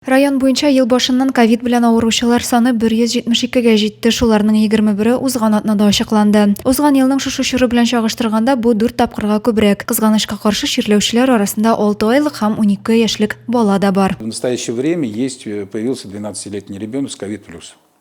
Район буенча ел башыннан ковид белән авыручылар саны 172 гә җитте, шуларның 21-е узган атнада ачыкланды. Узган елның шушы чоры белән чагыштырганда, бу дүрт тапкырга күбрәк. Кызганычка каршы, чирләүчеләр арасында 6 айлык һәм 12 яшьлек бала да бар. В настоящее время есть, э, появился двенадцатилетний ребенок с ковид плюс.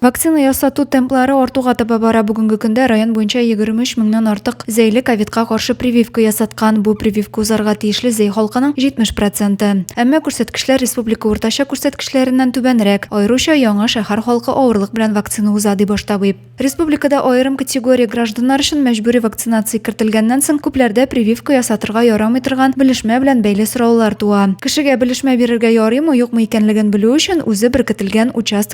Вакцина ясату темплары артуга таба бара. Бүгенге көндә район буенча 23 меңнән артык зәйле ковидка каршы прививка ясаткан. Бу прививка узарга тиешле зәй халкының 70 проценты. Әмма күрсәткечләр республика уртача күрсәткечләреннән түбәнрәк. Аеруча Яңа шәһәр халкы авырлык белән вакцина уза, ди баш табиб. Республикада аерым категория гражданнар өчен мәҗбүри вакцинация кертелгәннән соң күпләрдә прививка ясатырга ярамый торган белешмә белән бәйле сораулар туа. Кешегә белешмә бирергә ярыймы-юкмы икәнлеген белү өчен үзе беркетелгән участок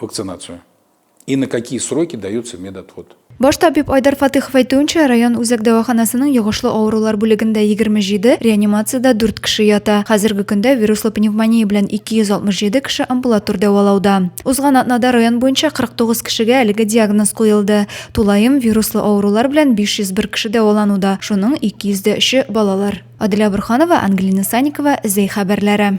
вакцинацию и на какие сроки дается медотвод. Баш табиб Айдар Фатыхов әйтүенчә, район үзәк дәваханасының йогышлы авырулар бүлегендә 27, реанимациядә 4 кеше ята. Хәзерге көндә вируслы пневмония белән 267 кеше амбулатор дәвалауда. Узган атнада район буенча 49 кешегә әлеге диагноз куелды. Тулаем вируслы авырулар белән 501 кеше дәвалануда, шуның 203-е балалар. Аделя Бурханова, Ангелина Саникова, Зәй хәбәрләре.